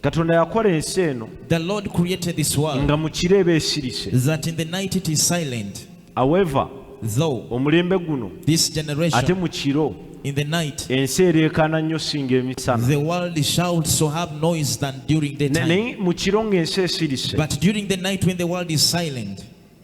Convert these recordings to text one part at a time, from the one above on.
katonda yakola ensi eno nga mu kiro eba esirise however omulembe guno ate mu kiro in the night ensi ereekaana nnyo singa emisana the world shouts so have noise than during the time mu kiro ng'ensi esirise but during the night when the world is silent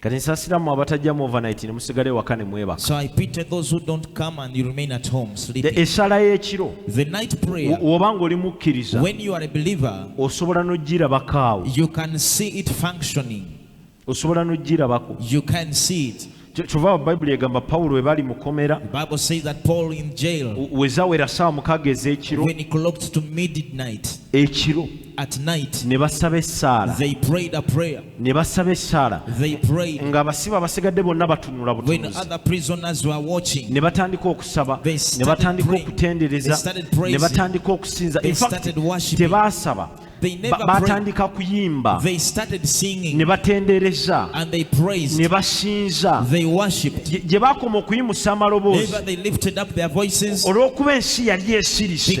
kati nsasira mu abatajja mu overnight ne musigale waka ne mwebaka so i pity those who don't come and you remain at home sleeping the esala y'ekiro the night prayer woba ng'oli mukkiriza when you are a believer osobola n'ogirabakaawo you can see it functioning osobola n'ogirabako you can see it kyova bayibuli egamba pawulo we bali mukomera wezawera saawa mukaaga ez'ekiro ekiro at night ne basaba essaala they prayed a prayer ne basaba essaala they prayed nga abasibe abasigadde bonna batunula when other prisoners were watching ne batandika okusaba ne batandika okutendereza ne batandika okusinza in fact tebaasaba batandika kuyimba ne batendereza ne basinza gye bakoma okuyimusa amaloboozi olw'okuba ensi yali esirise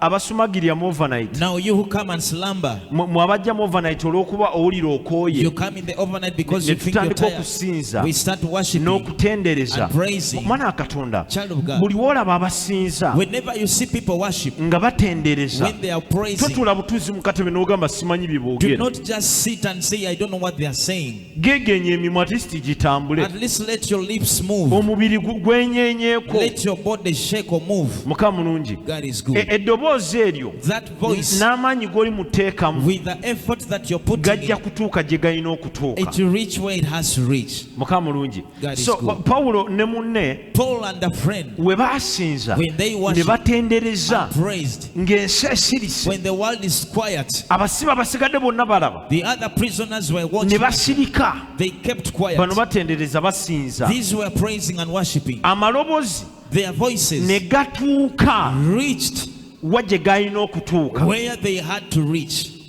abasumagirira mu overnight now you who come and slumber mu abajja mu overnight olw'okuba owulira okooye you come in the overnight because you think you're tired okusinza we start worshiping n'okutendereza omwana wa katonda buli w'olaba abasinza whenever you see people worship nga batendereza when they are praising totuula butuuzi mu katebe n'ogamba simanyi bye boogera do not just sit and say i don't know what they are saying gegenye emimwa at least gitambule At least let your lips move. omubiri gu- gwenyenyeko Let your body shake or move. mukama mulungi God is E- good. eddoboozi eryo That voice, n'amaanyi g'oli muteekamu with the effort that you're putting gajja in, kutuuka gye galina okutuuka it will reach where it has to reach. mukama mulungi so pawulo ne munne we baasinza ne batendereza ng'ensi esirise abasiba basigadde bonna balaba ne basirika bano batendereza basinza amaloboozi ne gatuuka wa gye galina okutuuka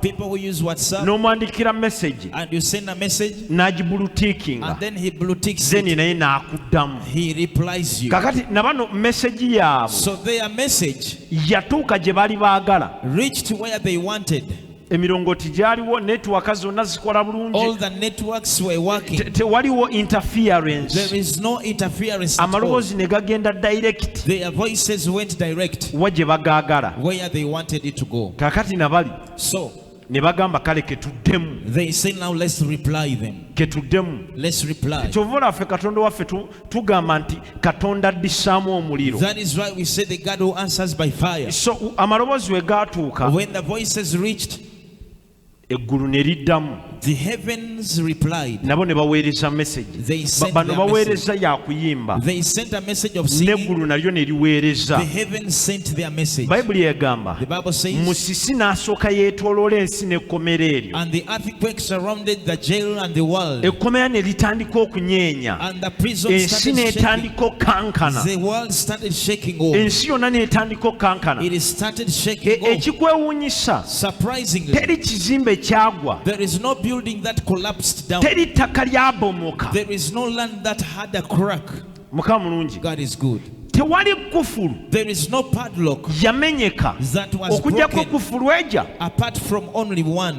People who use WhatsApp n'omwandikira message and you send a message n'agibulutiikinga and then he blueticks then it. naye n'akuddamu He replies you. kakati na bano message yaabwe So their message yatuuka gye baali baagala reached where they wanted. emirongooti gyaliwo netiwaka zonna zikola All bulungi the networks were working. Te- tewaliwo There interference is no interference. At all. amaloboozi ne gagenda direct Their voices went direct wa gye bagaagala where they wanted it to go. Kakati nabali. So ne bagamba kale ketuddemu they say now let's reply them ketuddemu let's reply kyova olaffe katonda waffe tugamba nti katonda addisaamu omuliro that is why we say the god who answers by fire so amaloboozi we gaatuuka when the voices reached eggulu ne liddamu nabo ne baweereza mesegi bano baweereza yakuyimba n'eggulu nalyo ne liweereza bayibuli egamba musisi n'asooka yeetoloola ensi n'ekkomera eryo ekkomera ne litandika okunyeenya ensi n'etandika okukankana ensi yonna n'etandika okukankana e, ekikwewuunyisa Surprisingly, teri kizimbe kyagwa there is no building that collapsed down teri ttaka lyabomoka there is no land that had a crack mukama mulungi god is good tewali kufulu there is no padlock yamenyeka that was okujjako broken kufulu eja apart from only one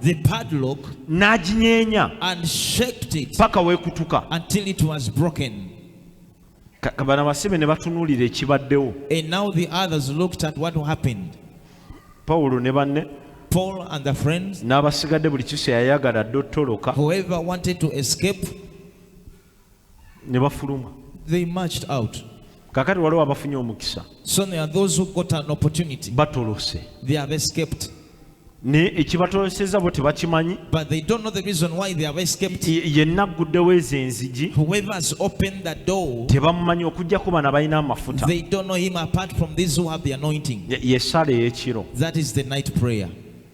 the padlock n'aginyeenya and shaked it paka wekutuka until it was broken bano abasibe ne batunuulira ekibaddewo and now the others looked at what happened pawulo ne banne paul and the friends n'abasigadde buli kiso yayagala dde ottoloka whoever wanted to escape ne bafuluma they marched out kakati waliwo abafunye omukisa so there are those who got an opportunity batolose they have escaped naye ekibatoloseza bo tebakimanyi but they don't know the reason why they have escaped yenna agguddewo ezo enzigi whoever has opened the door tebamumanyi okujjako bana balina amafuta they don't know him apart from these who have the anointing ye sala ey'ekiro that is the night prayer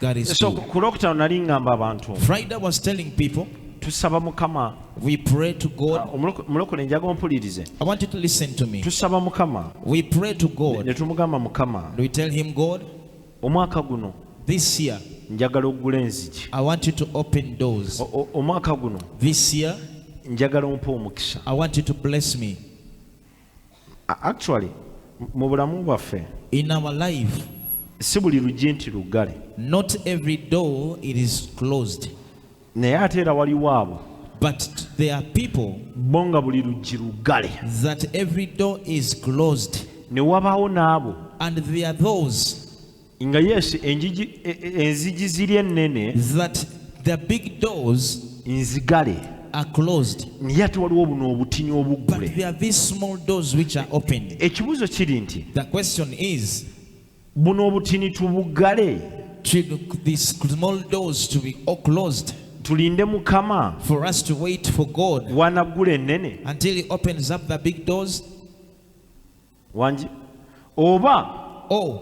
That is so true. ku lwokutaano nali ngamba abantu Friday was telling people, tusaba mukama we pray to God. Ah, omuloku- mulokole njaga ompulirize I want you to listen to me. tusaba mukama We pray to ne God. tumugamba mukama We tell Him, God, omwaka guno this year, njagala okugula enzigi I want you to open doors. O- o- omwaka guno This year, njagala ompa omukisa I want you to bless me. actually mu bulamu bwaffe in our life si buli luggi nti luggale not every door it is closed naye ate era waliwo abo but there are people bo nga buli luggi luggale that every door is closed ne wabaawo n'abo and there are those nga yes enjiji e, e, enziji ziri ennene that the big doors nzigale are closed naye ate waliwo buno obutini obuggule there are these small doors which are open ekibuuzo kiri nti the question is buno obutini tubuggale these small doors to be all closed tulinde mukama for us to wait for god wanaggula ennene until he opens up the big doors wangi oba oh.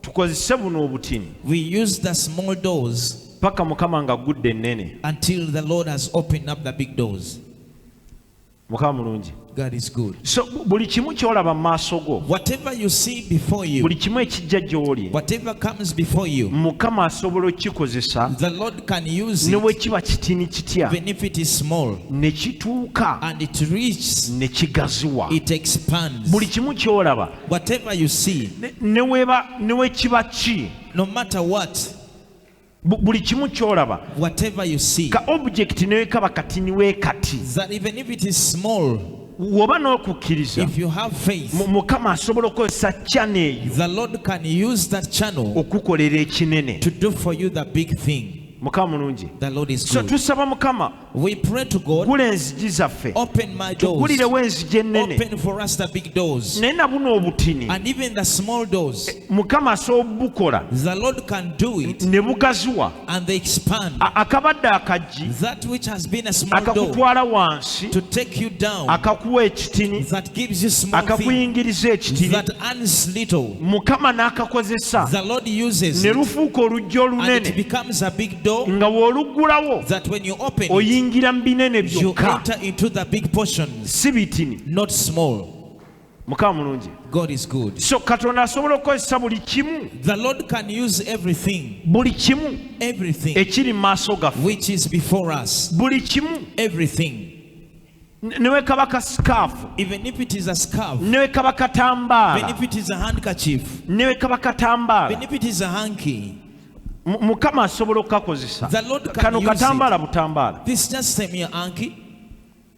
tukozese buno obutini we use the small doors paka mukama nga gudde ennene until the lord has opened up the big doors mukama mulungi God is good. So buli kimu kyolaba mu maaso go. Whatever you see before you. Buli kimu ekijja gy'oli. Whatever comes before you. Mukama asobola okukikozesa. The Lord can use it, ne bwe kiba kitini kitya even if it is small, ne kituuka and it reaches, ne kigaziwa it expands. buli kimu ky'olaba Whatever you see, ne- ne weba- ne we kiba ki no matter what, bu- buli kimu ky'olaba whatever you see, ka object ne wekaba katini we kati that even if it is small, woba n'okukkiriza mukama asobola okukozesa chano eyo okukolera ekinene mukama mulungi so tusaba mukama gula enzigi zaffe tugulirewo enzigi ennene naye na buno obutini eh, mukama asobola obubukola ne bugaziwa and they expand. akabadde akajji That which has been a small door akakutwala wansi to take you down, akakuwa ekitini that gives you small things, akakuyingiriza ekitini that earns little, mukama n'akakozesa the Lord uses ne it, lufuuka oluggi and it olunene becomes a big door nga w'oluggulawo that when you open it, oyingira mu binene you byokka enter into the big portions, si bitini not small. mukama mulungi so katonda asobola okukozesa buli kimu buli kimu ekiri mu maaso gaffe buli kimu newe kaba ka sikaafu newe kaba katambaala newe kaba katambaala mukama asobola okukakozesa kano katambaala butambaala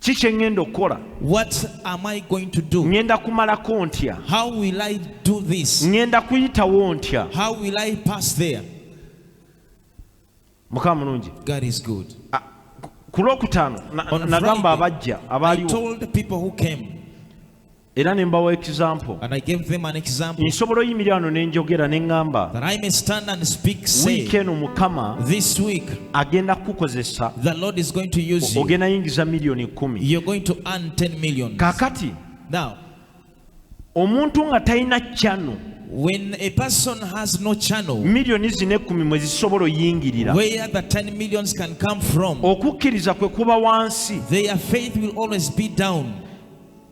ki kye ŋŋenda okukola ŋŋenda kumalako ntya ŋŋenda kuyitawo ntya mukama mulungi ah, ku lwokutaano nagamba abajja abaaliwo era ne mbawa example nsobola oyimirira wano ne njogera ne ŋŋamba wiiki eno mukama agenda kukukozesa ogenda yingiza miliyoni kumi kakati omuntu nga talina kyano when a person has no channel millioni zino ekkumi mwe zisobola oyingirira where the 10 millions can come from okukkiriza kwe kuba wansi their faith will always be down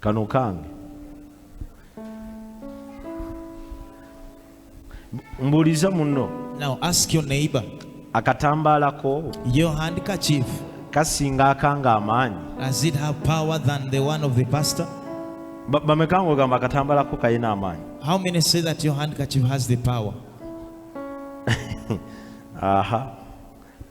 Kano kange. Mbuuliza munno. Now ask your neighbor. Akatambaala ko. Your handkerchief. Kasinga akanga amaanyi. Does it have power than the one of the pastor? Bameka ng'ogamba akatambaala ko kalina amaanyi. How many say that your handkerchief has the power? Aha.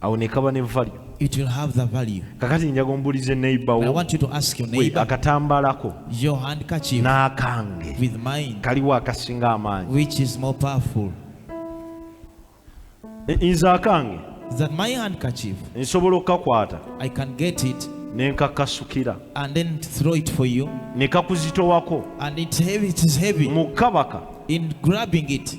awo nekaba ne value it will have the value kakati njaga ombulize neighbor wo i want you to ask your neighbor akatambala ko your handkerchief n'akange with mine kaliwo akasinga amaanyi which is more powerful nze akange that my handkerchief nsobola okukakwata i can get it nenkakasukira and then throw it for you nekakuzitowako and it heavy, it is heavy mu kabaka in grabbing it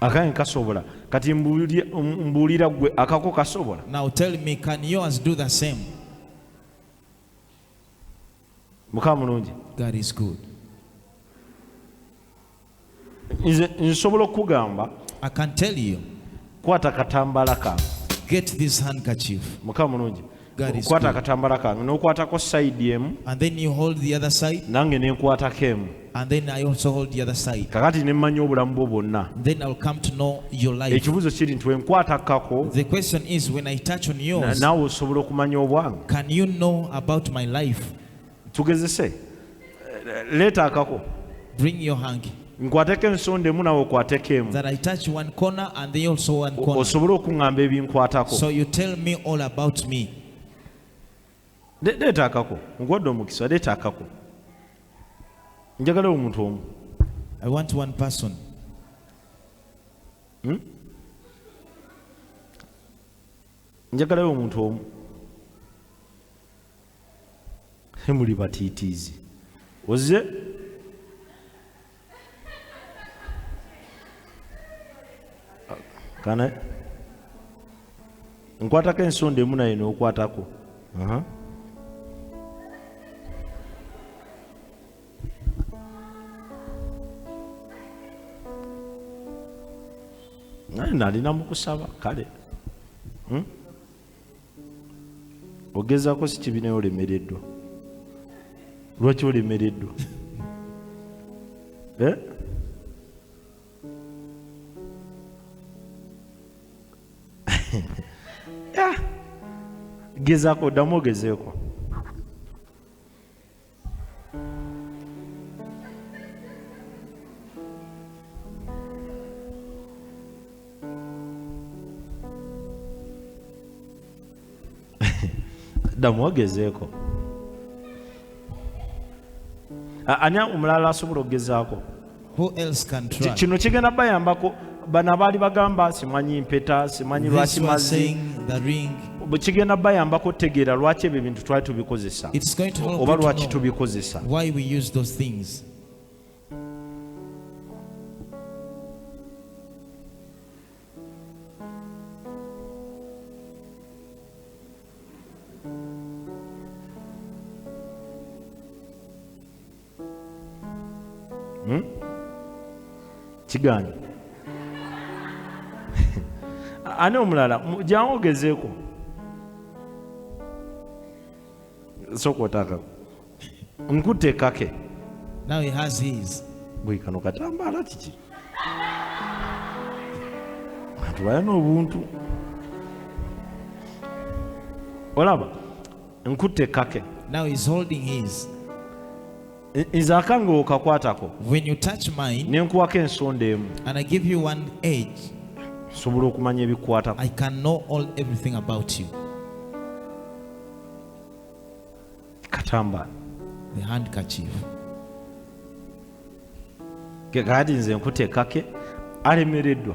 akange kasobola kati mbuulira gwe akako kasobola now tell me can yours do the same mukama mulungi god is good nze nsobola okugamba i can tell you kwata katambala ka get this handkerchief mukama mulungi God is okukwata good. akatambala kange n'okwatako sayidi emu And then you hold the other side, nange ne nkwatako emu and then I also hold the other side. kakati ne mmanya obulamu bwo bwonna Then I'll come to know your life. ekibuuzo kiri nti wenkwatakako The question is when I touch on na- yours, naawe osobola okumanya obwange can you know about my life? tugezese leeta akako bring your hanky nkwateko ensonda emu nawe okwateko emu osobole okuŋŋamba ebinkwatako leeta akako nkuwadde omukisa leeta akako njagala omuntu omu I want one person. Hmm? njagalayo omuntu omu muli batiitiizi oze kana nkwatako ensonda emu naye nokwatako uh -huh. nalina mukusaba kale hmm? ogezako sikibinayo olemereddwa lwaki olemereddwa eh? gezako oddamu ogezeeko damu wagezeeko ani omulala asobola okugezaako Who else can try? kino kigenda bayambako bana baali bagamba simanyi mpeta simanyi This lwaki one mazi saying the ring. bwe kigenda bayambako okutegeera lwaki ebyo ebintu twali tubikozesa It's going to help oba you to lwaki know tubikozesa why we use those things. hmm? kigaanyi ani omulala jangu ogezeeko sooka otaka nkutte kake now he has his bwe kano katambaala kiki abantu balina obuntu olaba nkutte kake now he's holding his nze akange okakwatako when you touch mine nenkuwako ensonda emu and i give you one age nsobola okumanya ebikwatako i can know all everything about you katamba the handkerchief kati nze nkutekake alemereddwa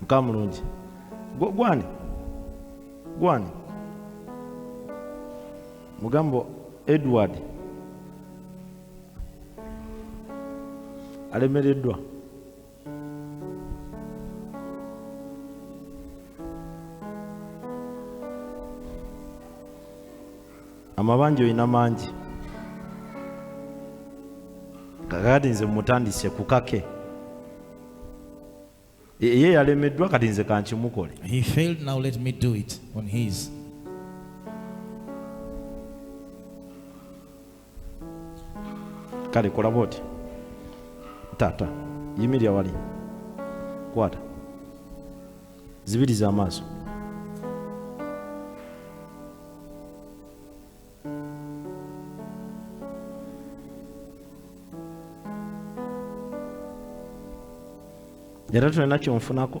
mukama mulungi gwani gwani mugambo edward alemereddwa amabanja olina mangi kakati nze mutandise kukake e, ye yalemeddwa kati nze kankimukole kale kola bwoti taata yimirira wali kwata zibiriza amaaso era tulina kyonfunako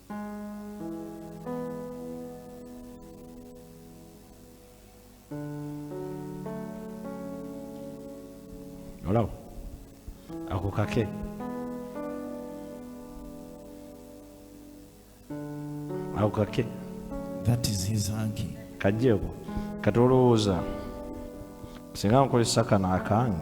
olaba ako kake ako kake kajjeeko kati olowooza singa nkozesa kano akange